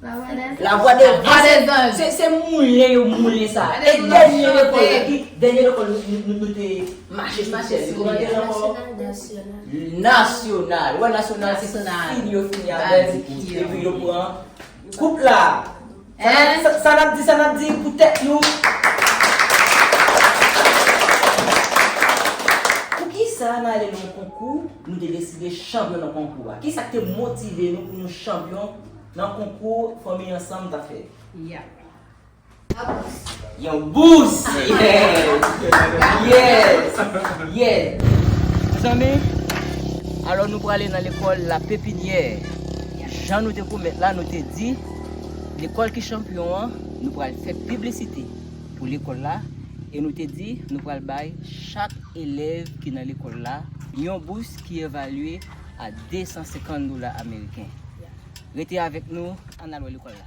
La vwa de zanj. Se moulen yo moulen sa. E dènye lekòl la ki? Dènye lekòl nou te mache sou sèl li. Kòman te rele ankò? Nasyonal. Wè nasyonal se fin yo fini avèl. Epi yo pran koup la. Sa nap di, sa nap di pou tèt nou. Poukisa nan ale nan yon konkou nou te deside chanpyon nan konkou a? Kisa ki te motive nou pou nou chanpyon? Nan konkou fanmi ansanm ta fè. Yap. Yon bous. Yon bous! Yes! Yes! Mezanmi, alò nou prale nan lekòl la pepinyè. Jan nou te pwomèt la, nou te di, lekòl ki chanpyon an, nou pral fè piblisite pou lekòl la, e nou te di nou pral bay chak elèv ki nan lekòl la yon bous ki evalye a 250 dola ameriken. Rete avèk nou, ann al wè lekòl la.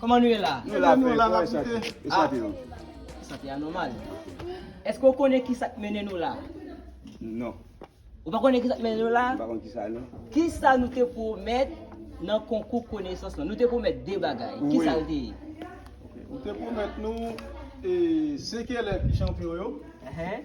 Kòman nou ye la? Nou la frè, kòman e sante yo? E sante yo? E sante a nòmal. Eske ou konnen kisa k mennen nou la? Non. Ou pa konnen kisa k mennen nou la? M pa konnen kisa non. Kisa nou te pwomèt nan konkou konesans lan? Nou te pwomèt de bagay. Wi. Kisa l te ye? Ou te pwomèt nou e se kilè ki chanpyon yo. Ehe.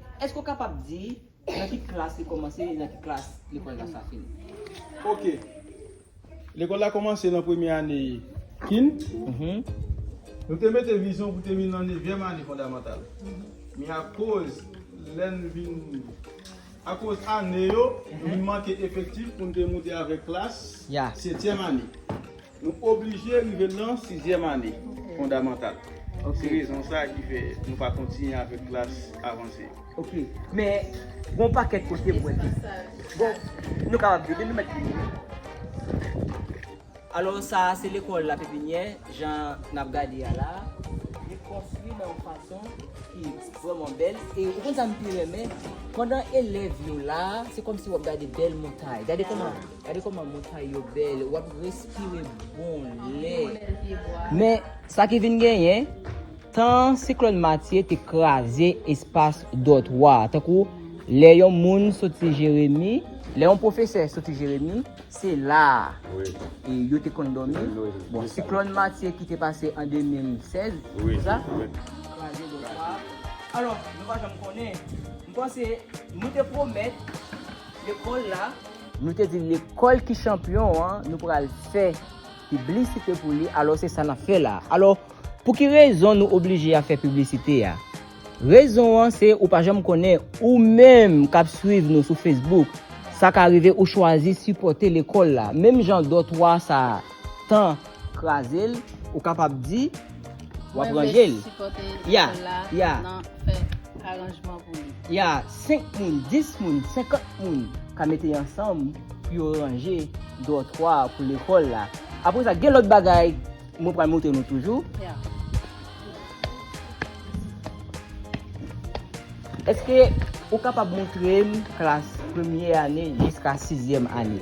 Èske ou kapab di nan ki klas li kòmanse e nan ki klas lekòl la sa fini? Ok. Lekòl la kòmanse nan premye ane kin. Nou te mete vizyon pou te vin nan nevyèm ane fondamantal. Men akoz lè n vin, akoz ane yo, nou vin manke efektif pou n te moute avèk klas setyèm ane. Nou oblije rive nan sizyèm ane fondamantal. Se rezon sa ki fè nou pa kontinye avèk klas avanse yo. Ok. Men, gen yon pakèt kote m wè ke. Bon, nou kapab di, depi nou mèt fin li. Alò, sa a se lekòl lapepinyè, jan n ap gade a la a. Li konstwi nan yon fason ki vrèman bèl. E ou konn sa m pi renmen? Pandan elèv yo la a, se kòmsi w ap gade bèl montay. Gade kòman. Gade koman montay yo bel. Wap respire bon lè. Men sa ki vin genyen, tan siklòn Matye te kraze espas dòtwa. Tankou lè yon moun soti Jeremi, lè yon pwofesè soti Jeremi, se la a yo te konn dòmi. Bon, siklòn Matye ki te pase an 2016, se sa? Kraze dòtwa. Alò, nou pa janm konnen. M panse nou te pwomèt lekòl la. Nou te di lekòl ki chanpyon an, nou pral fè piblisite pou li, alò se sa n ap fè la. Alò, pou ki rezon nou oblije ap fè piblisite a? Rezon an se ou pa janm konnen, ou menm k ap swiv nou sou Facebook, sa ka rive ou chwazi sipòte lekòl la, menm jan dòtwa sa tan. Kraze l, ou kapab di, w ap ranje l. Ya, ya. Ya, 5 moun, 10 moun, 50 moun ka mete ansanm pou yo ranje dòtwa pou lekòl la. Apre sa, gen lòt bagay mwen pral montre nou toujou. Eske ou kapab montre m klas premye ane jiska sizyèm ane?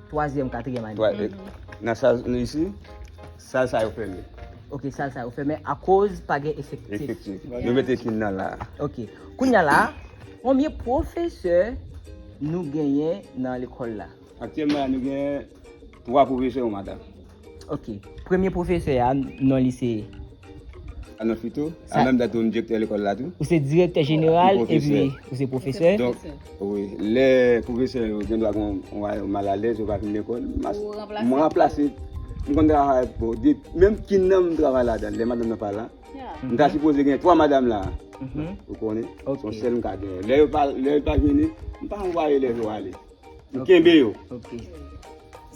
Twazyèm, katriyèm ane. Twa, e, nan sal nou isi, sal sa yo fèmen. Ok, sal sa yo fèmen akoz pa gen efektif. Efektif. Nou mete kin nan la. Ok. Kounya la, konbyen pwofesè nou genyen nan lekòl la? Aktyèlman la nou genyen 3 pwofesè yon madanm. Ok, premye pwofesè a non li se? Alan Futo, an menm tan tou m direktè lekòl la tou. Ou se direktè jeneral epi ou se pwofesè? Donk, wi, lè pwofesè yo gen dwa gen yon a yo mal alèz yo pa vin lekòl, m ranplase, m konn travay pou, menm kin nan m travay ladan, lè madanm nan pa la, m ta sipoze gen 3 madanm la, ou konnen, son sèl m ka genyen. Lè yo pa vini, m pa anvwaye elèv yo ale. Nou kenbe yo. Ok.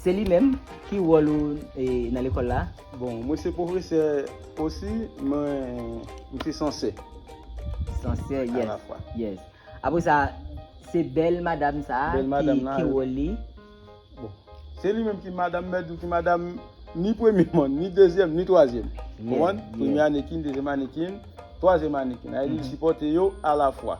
Se li menm, ki wòl ou nan lekòl la? Bon, mwen se pwofesè osi, mwen se sansè. Sansè, yes. Alafwa. Yes. Apre sa, se bèl madam sa a ki wòl li? Bon, se li menm ki madam mèt ou, ki madam ni premye moun, ni dezyèm, ni twazyèm. Ou konprann? Premye ane kin, dezyèm ane kin, twazyèm ane kin. Li sipòte yo alafwa.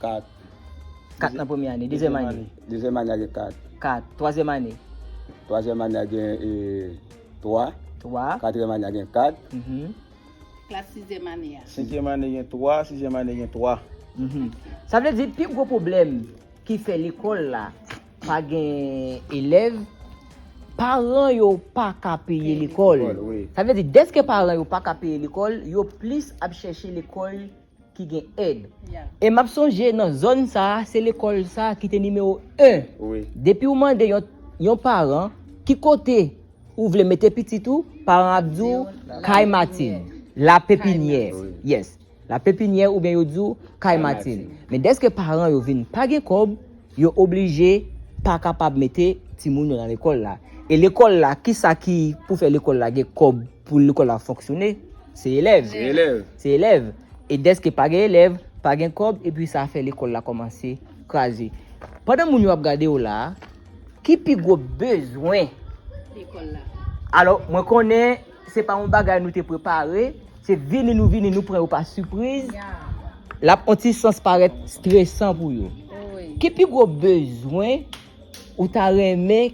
4. 4 nan premye ane. Dezyèm ane. Dezyèm ane a gen 4. 4. Twazyèm ane. Twazyèm ane a gen 3. 3. Katryèm ane a gen 4. Klas sizyèm ane a. Senkyèm ane gen 3. Sizyèm ane gen 3. Sa vle di pi gwo pwoblèm ki fè lekòl la pa gen elèv, paran yo pa ka peye lekòl. Sa vle di dèske paran yo pa ka peye lekòl, yo plis ap chèche lekòl ki gen èd. E map sonje nan zòn sa a se lekòl sa a ki te nimewo 1. Depi ou mande yon yon paran ki kote ou vle mete pitit ou, paran ap di w Kay Matin, La Pepinyè. Yes. La Pepinyè oubyen yo di w Kay Matin. Men dèske paran yo vin pa gen kòb, yo oblije pa kapab mete timoun yo nan lekòl la. E lekòl la, kisa ki pou fè lekòl la gen kòb? Pou lekòl la fonksyone, se elèv. Se elèv. E dèske pa gen elèv, pa gen kòb, epi sa fè lekòl la kòmanse kraze. Pandan moun yo ap gade w la a, ki pi gwo bezwen? Lekòl la. Alò, mwen konnen se pa yon bagay nou te prepare, se vini nou vini, nou pran yo pa sipriz. Ya. L ap yon ti sans parèt stresan pou yo. Wi. Ki pi gwo bezwen ou ta renmen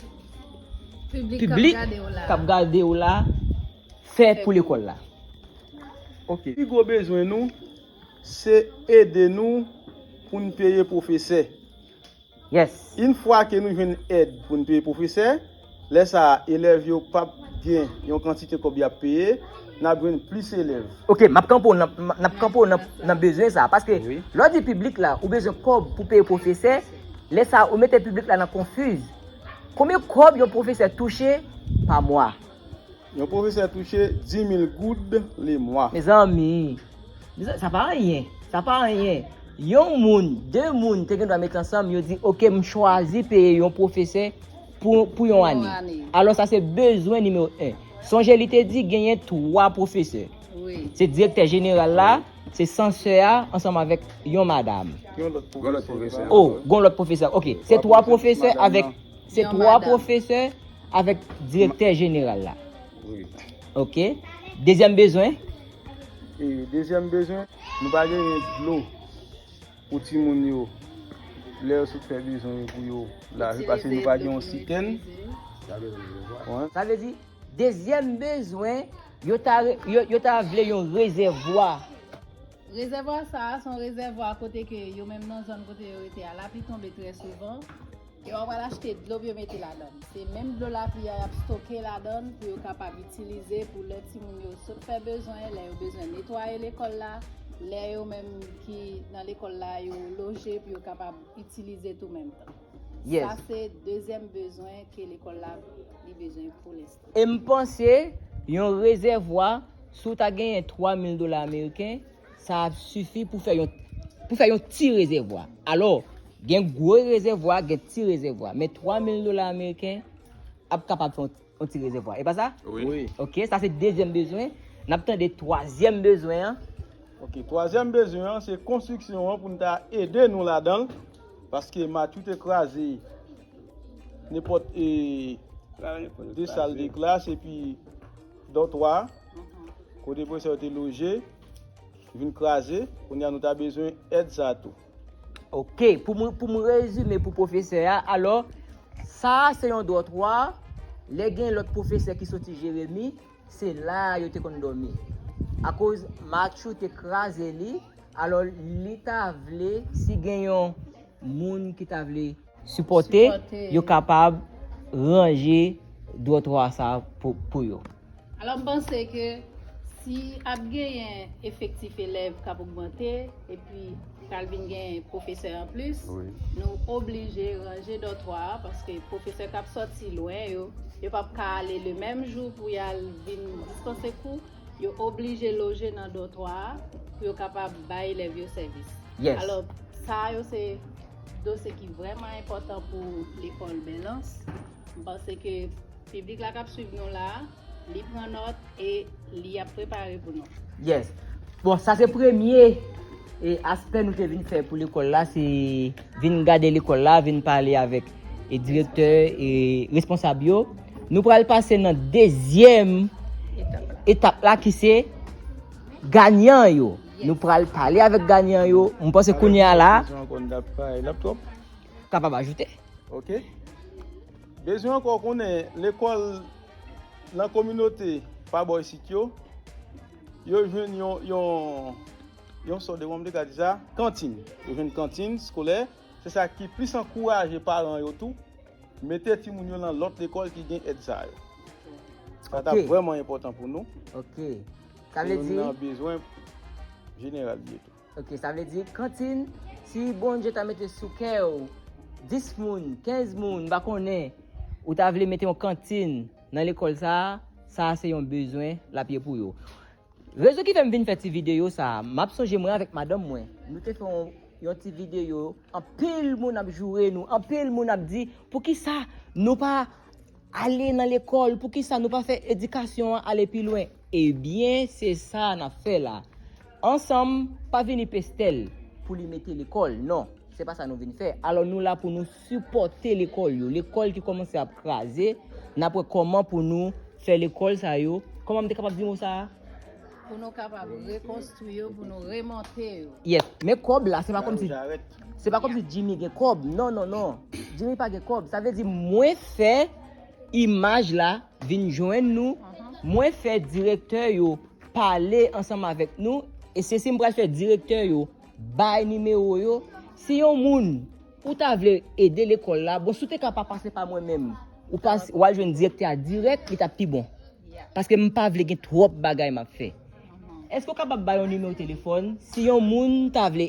piblik k ap gade w la fè pou lekòl la. Ok. Pi gwo bezwen nou se ede nou pou n peye pwofesè. Yes. Yn fwa ke nou jwenn èd pou n peye pwofesè, lè sa a elèv yo p ap gen yon kantite kòb y ap peye, n ap jwenn plis elèv. Ok, m ap kanpe w nan, n ap kanpe w nan, nan bezwen sa a. Paske lè w di piblik la, ou bezwen kòb pou peye pwofesè, lè sa a ou mete piblik la nan konfiz. Konbyen kòb yon pwofesè touche pa mwa? Yon pwofesè touche 10,000 goud le mwa. Mezanmi! Sa pa anyen! Sa pa anyen! Yon moun, de moun te gendwa met ansanm, yo di, ok, m chwazi peye yon pwofesè pou yon ane. Alò sa se bezwen nimewo 1. Sonje li te di genyen 3 pwofesè. Se direktè jeneral la. Se san sè a ansanm avèk yon madam. Yon lòt pwofesè. O, gon lòt pwofesè. Ok, se 3 pwofesè avèk se 3 pwofesè avèk direktè jeneral la. Wi. Ok. Dezyèm bezwen? E, dezyèm bezwen, nou pa genyen dlo pou timoun yo lè yo sot fè bezwen yo pou yo lave paske nou pa gen yon sitèn. Sa vle di, dezyèm bezwen, Yo ta yo ta vle yon rezèvwa. Rezèvwa sa a, se yon rezèvwa kote ke yo menm nan zòn kote yo rete a, lapli tonbe trè souvan. Yo ap al achte dlo pou yo mete ladan. Se menm dlo lapli a y ap stoke ladan l pou yo kapab itilize pou lè timoun yo sot fè bezwen, lè yo bezwen netwaye lekòl la, lè yo menm ki nan lekòl la yo loje pou yo kapab itilize tou menm tan. Sa se dezyèm bezwen ke lekòl la li bezwen pou lenstan. E m panse, yon rezèvwa, si w ta genyen 3 mil dola ameriken, sa ap sifi pou fè yon pou fè yon ti rezèvwa. Alò, gen gwo rezèvwa, gen ti rezèvwa. Men 3 mil dola ameriken ap kapab fè yon ti rezèvwa. E pa sa? Wi. Ok, sa se dezyèm bezwen. N ap tande twazyèm bezwen an. Ok, twazyèm bezwen an, se konstriksyon an pou n ta ede nou ladan l, paske Matthew te kraze. Nenpòt e de sal de klas epi dòtwa kote pwofesè yo te loje vin kraze, kounye a nou ta bezwen èd sa a tou. Ok, pou m rezime pou pwofesè a, alò, sa a se yon dòtwa, lè gen lòt pwofesè ki soti Jeremi, se la a yo te konn dòmi. Akoz Matchou te kraze li, alò li ta vle si gen yon moun ki ta vle. Sipòte, yo kapab ranje dwotwa sa pou yo. Alò m panse ke si ap genyen efektif elèv k ap ogmante epi pral vin gen pwofesè anplis, nou oblije ranje dòtwa a paske pwofesè k ap sòti lwen yo, yo p ap ka ale lemenm jou pou y al vin dispanse kou, yo oblije loje nan dòtwa a pou yo kapab bay elèv yo sèvis. Alò, sa yo se. Dosye ki vrèman enpòtan pou lekòl Belans. M panse ke piblik la k ap swiv nou la a, li pran nòt e li ap prepare pou nou. Yes. Bon, sa se premye e aspè nou te vin fè pou lekòl la, se vin gade lekòl la, vin pale avèk e direktè e responsab yo. Nou pral pase nan dezyèm etap la ki se ganyan yo. Nou pral pale avèk ganyan yo. M panse kounye a la. Bezwen ankò n ta pale lap twòp. Kapab ajoute. Ok. Bezwen ankò konnen lekòl nan kominote pa bò isit yo. Yo jwenn yon yon yon sò de kòman m te ka di sa kantin. Yo jwenn kantin skolè. Se sa ki plis ankouraje paran yo tou mete timoun yo nan lòt lekòl ki gen èd sa yo. Sa ta vrèman enpòtan pou nou. Ok. Sa vle di. Nan bezwen jeneral ye tou. Ok, sa vle di kantin si Bondye ta mete sou kè ou 10 moun, 15 moun, m pa konnen, ou ta vle mete yon kantin nan lekòl sa a, sa a se yon bezwen l ap ye pou yo. Rezon ki fè m vin fè ti videyo sa a, m ap sonje mwen avèk madanm mwen, nou te fè yon yon ti videyo, anpil moun ap joure nou, anpil moun ap di poukisa nou pa Ale nan lekòl, poukisa nou pa fè edikasyon an ale pi lwen? Ebyen se sa a nap fè la ansanm, pa vini Pestel pou li mete lekòl non, se pa sa nou vin fè, alò nou la pou nou sipòte lekòl yo, lekòl ki kòmanse ap kraze, nap wè kòman pou nou fè lekòl sa yo, kòman m te kapab di mo sa a? Pou nou kapab rekonstwi yo, pou nou remonte yo. Yes, men kòb la se pa kòmsi. Se pa komsi Jimmy gen kob, non, non, non. Jimmy pa gen kob. Sa vle di mwen fè imaj la vin jwenn nou, mwen fè direktè yo pale ansanm avèk nou, e se si m pral fè direktè yo bay nimewo yo. Si yon moun ou ta vle ede lekòl la, bon si w te ka pa pase pa mwen menm, ou pas, ou al jwenn direktè a dirèk, li t ap pi bon. Paske m pa vle gen twòp bagay m ap fè. Èske ou kapab bay yon nimewo telefòn si yon moun ta vle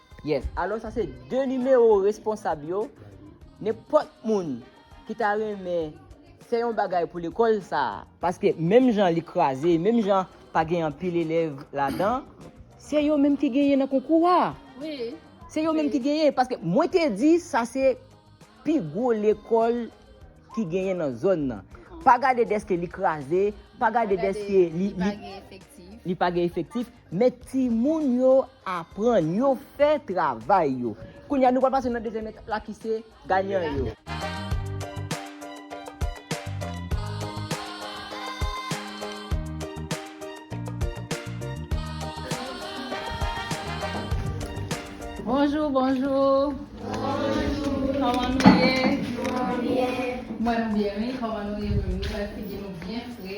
Yes, alò sa se 2 nimewo responsab yo, nenpòt moun ki ta renmen fè yon bagay pou lekòl sa a, paske menm jan li kraze, menm jan pa gen anpil elèv ladan, se yo menm ki genyen nan konkou a, se yo menm ki genyen, paske mwen te di sa se pi gwo lekòl ki genyen nan zòn nan, pa gade deske li kraze, pa gade deske li pa gen efektif. Met timoun yo aprann yo fè travay yo. Kounye a nou pral pase nan dezyèm etap la ki se ganyan yo. Bonjou bonjou Kòman nou ye? Mwen byen wi, kòman nou ye menm? Nou wè figi nou byen fre.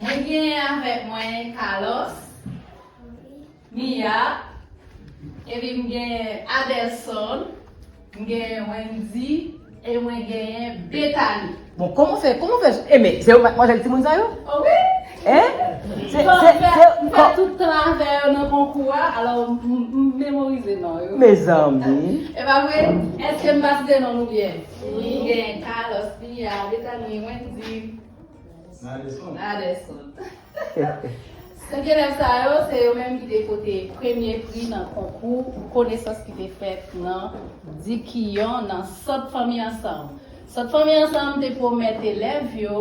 Mwen genyen avèk mwen Carlos, Mia, epi m genyen Adelson, m genyen Wendy, e mwen genyen Bethany. Bon, kòman w fè, kòman w fè, e men, se yo matmwazèl timoun sa yo? O wi! Hein? Se, se, se, M fè tout tan avè yo nan konkou a, alò m memorize non yo. Mezanmi! E pa vre? Èske m pa site non nou byen? Wi. M genyen Carlos, Mia, Bethany, Wendy. Adelson. Adelson. Sèk elèv sa yo, se yo menm ki te pote premye pri nan konkou pou konesans ki te fèt nan Dikiyon nan Sant Fanmi Ansanm. Sant Fanmi Ansanm te pwomèt elèv yo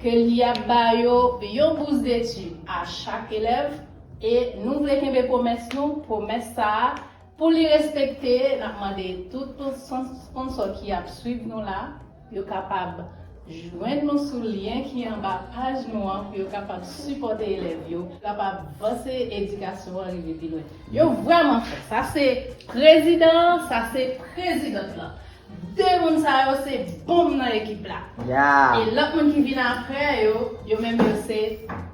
ke li ap ba yo yon bous detid a chak elèv e nou vle kenbe pwomès nou, pwomès sa a Pou li respekte, n ap mande tout sponsò ki ap swiv nou la, yo kapab jwenn nou sou lyen ki anba paj nou an pou yo kapab sipòte elèv yo, pou yo kapab vanse edikasyon an rive pi lwen. Yo vrèman fò. Sa se prezidan an, sa se prezidant lan. De moun sa yo se bonm nan ekip la. E lòt moun ki vin aprè yo, yo menm yo se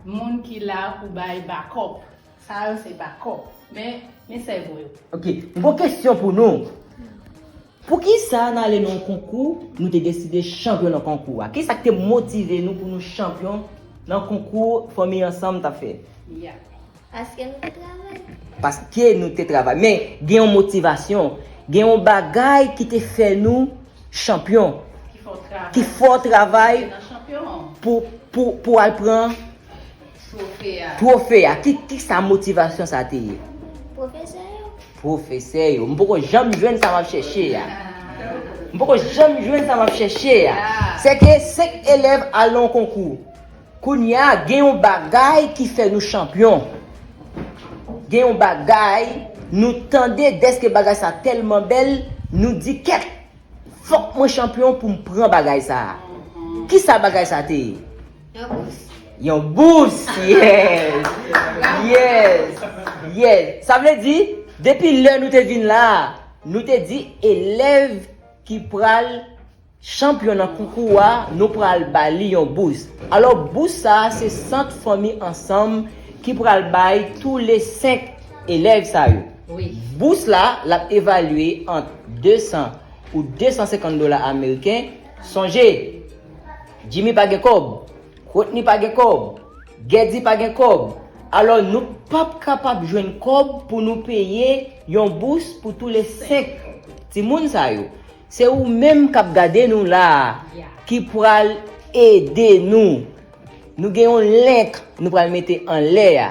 moun ki la pou bay bakòp. Sa yo se bakop. Men, men sèvo yo. Ok, m gon kesyon pou nou. Poukisa nan ale nan yon konkou, nou te deside chanpyon nan konkou a? Kisa k te motive nou pou nou chanpyon nan konkou Fanmi Ansanm t ap fè? Mya. Paske nou te travay. Paske nou te travay. Men, gen yon motivasyon. Gen yon bagay ki te fè nou chanpyon. Ki fè w travay. Ki fè w travay. Pou w al pran. Twofe a. Twofe a. Ki, ki sa motivasyon sa te ye? Pwofesè yo. Pwofesè yo. M poko janm jwenn sa m ap chèche a. M poko janm jwenn sa m ap chèche a. Se ke 5 elèv al nan yon konkou. Kounye a, gen yon bagay ki fè nou chanpyon. Gen yon bagay, nou tande dèske bagay sa tèlman bèl, nou di kèt! Fòk mwen chanpyon pou m pran bagay sa a. Ki sa bagay sa te ye? Yon bous. Yon bous! Yes! Yes! Yes! Sa vle di, depi lè nou te vin la, nou te di elèv ki pral chanpyon nan koukou a, nou pral ba li yon bous. Alò, bous sa a se Sant Fanmi Ansanm ki pral bay toule 5 elèv sa yo. Wi. Bous la, l ap evalye ant 200 ou 250 dola ameriken. Sonje! Jimmy pa gen kòb, Rodney pa gen kòb, Gèdi pa gen kòb, alò nou pap kapab jwenn kòb pou nou peye yon bous pou tou le 5 timoun sa yo. Se ou menm k ap gade nou la a ki pral ede nou. Nou gen yon link nou pral mete anlè a.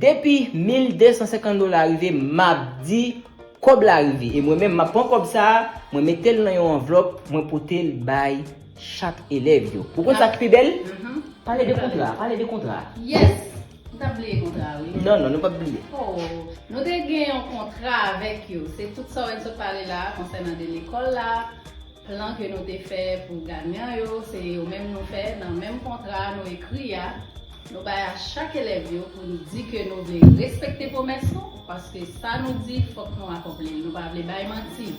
Depi 1250 dola rive map di kob la rive e mwen menm map pran kob sa mwen metel nan yon anvlop mwen potel bay chak elev yo ou konn sak pi bel pale de kontra pale de kontra yes nou tap bliye kontra wi non non nou pap bliye oh nou te gen yon kontra avek yo se tout sa ou vinn sot pale la konsènan de lekol la Plan ke nou te fè pou ganyan yo, se yo menm nou fè nan menm kontra a nou ekri a, nou bay a chak elèv yo pou nou di ke nou vle respekte pwomès nou, paske sa nou di fòk nou akonpli l, nou pa vle bay manti.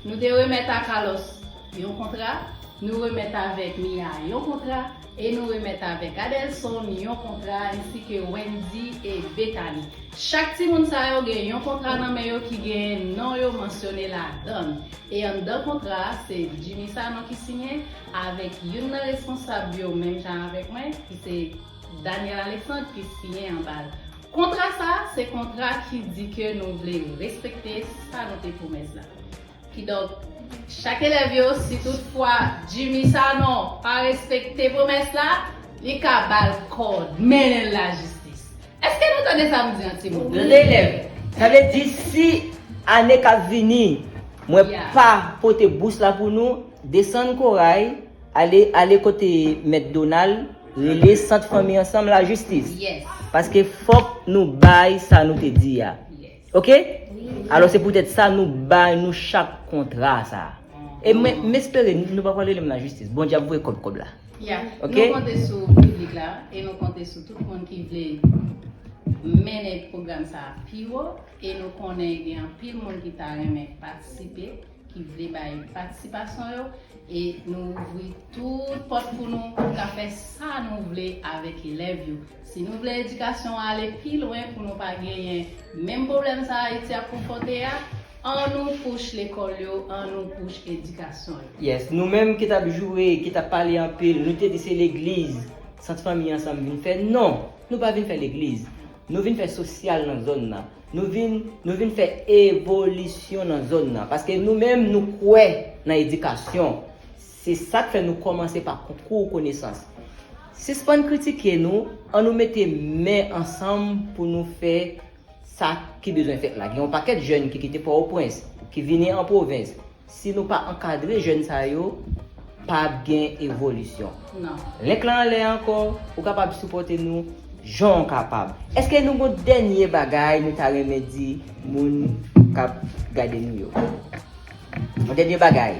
Nou te remèt a Carlos yon kontra, nou remèt avèk Mia yon kontra, E nou remèt avèk Adelson yon kontra ensi ke Wendy e Bethany. Chak timoun sa yo gen yon kontra nan men yo ki gen non yo mansyone ladann. E anndan kontra a, se Jimmy Sanon ki siyen avèk youn nan responsab yo menm jan avèk mwen ki se Daniel Alexandre ki siyen anba l. Kontra sa, se kontra ki di ke nou vle respekte sa nou te pwomèt la. Kidonk, chak elèv yo, si tout fwa Jimmy Sanon pa respekte pwomès la, li ka ba l kòd, mennen l lajistis. Èske nou tande sa m di an, timoun? Yon elèv, Sa vle di si ane k ap vini mwen pa pote bous la pou nou, desann Koray, ale ale kote mèt Donal, rele sant fanmi ansanm lajistis. Paske fòk nou bay sa nou te di a. Ok Alò se poutèt sa nou bay nou chak kontra sa a. E mwen m espere nou pa pral rele m lajistis. Bondye ap voye kòb kòb la. Yeah. Ok. Nou konte sou piblik la e nou konte sou tout moun ki vle mennen pwogram sa a pi wo e nou konnen gen anpil moun ki ta renmen patisipe. ki vle bay patisipasyon yo e nou ouvri tout pòt pou nou pou nou ka fè sa nou vle avèk elèv yo. Si nou vle edikasyon an ale pi lwen pou nou pa genyen menm pwoblèm sa Ayiti ap konfwonte a, an nou poush lekòl yo, an nou poush edikasyon yo. Yes, nou menm ki tap joure, ki tap pale anpil, nou te di se legliz Sant Fanmi Ansanm vin fè. Non! Nou pa vin fè legliz. Nou vin fè sosyal nan zòn nan. Nou vin nou vin fè evolisyon nan zòn nan. Paske nou menm nou kwè nan edikasyon. Se sa k fè nou kòmanse pa konkou konesans. Sispann kritike nou, an nou mete men ansanm pou nou fè sa ki bezwen fèt la. Gen yon pakèt jèn ki kite Pò-o-Prens, ki vini an pwovens. Si nou pa ankadre jèn sa yo, pa ap gen evolisyon. Link lan anlè ankò, ou kapab sipòte nou jan w kapab. Eske nou gon dènye bagay nou ta renmen di moun k ap gade nou yo? Yon dènye bagay?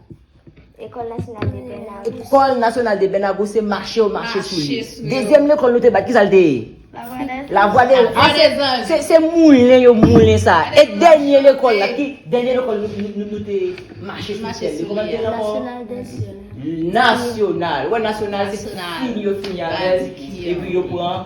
Ecole nationale de Bernard Gousse. Ecole nationale de Bernard Gousse mache yo mache sou li. Dezyèm lekòl nou te bat ki sa l te ye? La voix des anges. Se moulen yo moulen sa. E dènye lekòl la ki dènye lekòl nou te mache sou sèl li. Kòman l te lankò? National des jeunes. Nasyonal. Wè nasyonal se fin yo fini avèl epi yo pran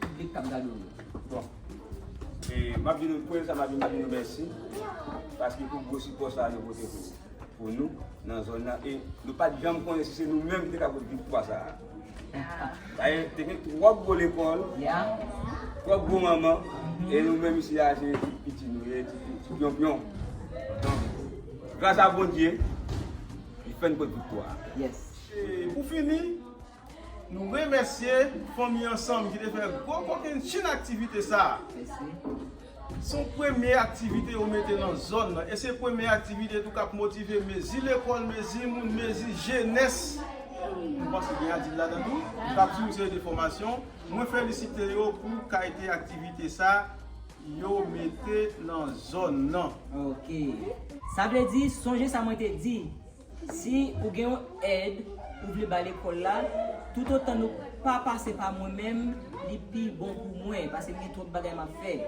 Piblik kap gade w yo. Bon. E map di nou premye sa map di map di nou mèsi paske pou gwo sipò sa nou pote pou nou nan zòn nan e nou pat janm konnen si se nou menm ki te ka pot viktwa sa a. Paske te gen twòp gwo lekòl, twòp gwo manman e nou menm isi a se ti piti nou ye, ti pyonpyon. Donk, gras a Bondye, li fè n pot viktwa a. Pou fini. Nou remèsye fanmi ansanm ki te fè gwo kokenn chenn aktivite sa a. Se yon premye aktivite yo mete nan zòn nan e se premye aktivite tou k ap motive mezi lekòl, mezi moun, mezi jenès, mwen panse gen adilt ladan tou, k ap suiv yon seri de fòmasyon. Mwen felisite yo pou kalite aktivite sa yo mete nan zòn nan. Ok. Sa vle di, sonje sa mwen te di. Si ou gen yon èd ou vle ba lekòl la, toutotan nou pa pase pa mwen menm, li pi bon pou mwen, paske m gen twòp bagay m ap fè.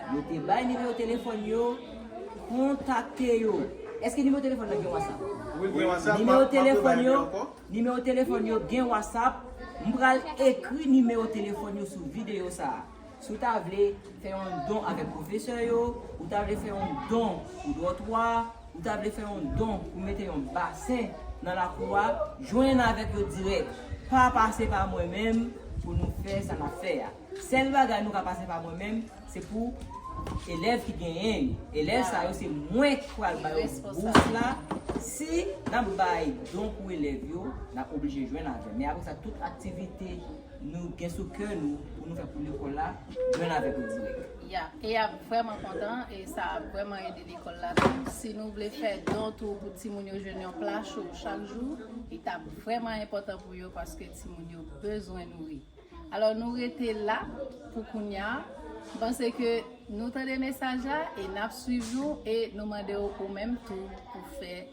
Yo te bay nimewo telefòn yo. Kontakte yo. Èske nimewo telefòn nan gen Whatsapp? Wi, gen Whatsapp. Nimewo telefòn yo, nimewo telefòn yo gen Whatsapp. M pral ekri nimewo telefòn yo sou videyo sa a. Si w ta vle fè yon don avèk pwofesè yo, ou ta vle fè yon don pou dòtwa, ou ta vle fè yon don pou mete yon basen nan lakou a, jwenn avèk yo dirèk. Pa pase pa mwen menm pou nou fè sa n ap fè a. Sèl bagay nou ka pase pa mwen menm se pou elèv ki genyen yo. Elèv sa yo se mwen ki pral ba yo bous la. Si n ap bay don pou elèv yo, n ap oblije jwenn avè m. Men apre sa tout aktivite. Nou gen sou kè nou pou nou fè pou lekòl la jwenn avèk yo dirèk. Ya, e yap vrèman kontan e sa ap vrèman ede lekòl la tou. Si nou vle fè don tou pou timoun yo jwenn yon pla cho chak jou, li tap vrèman enpòtan pou yo paske timoun yo bezwen nouri. Alò nou rete la pou kounya, m panse ke nou tande mesaj la e nap swiv nou e nou mande w ou menm tou pou fè.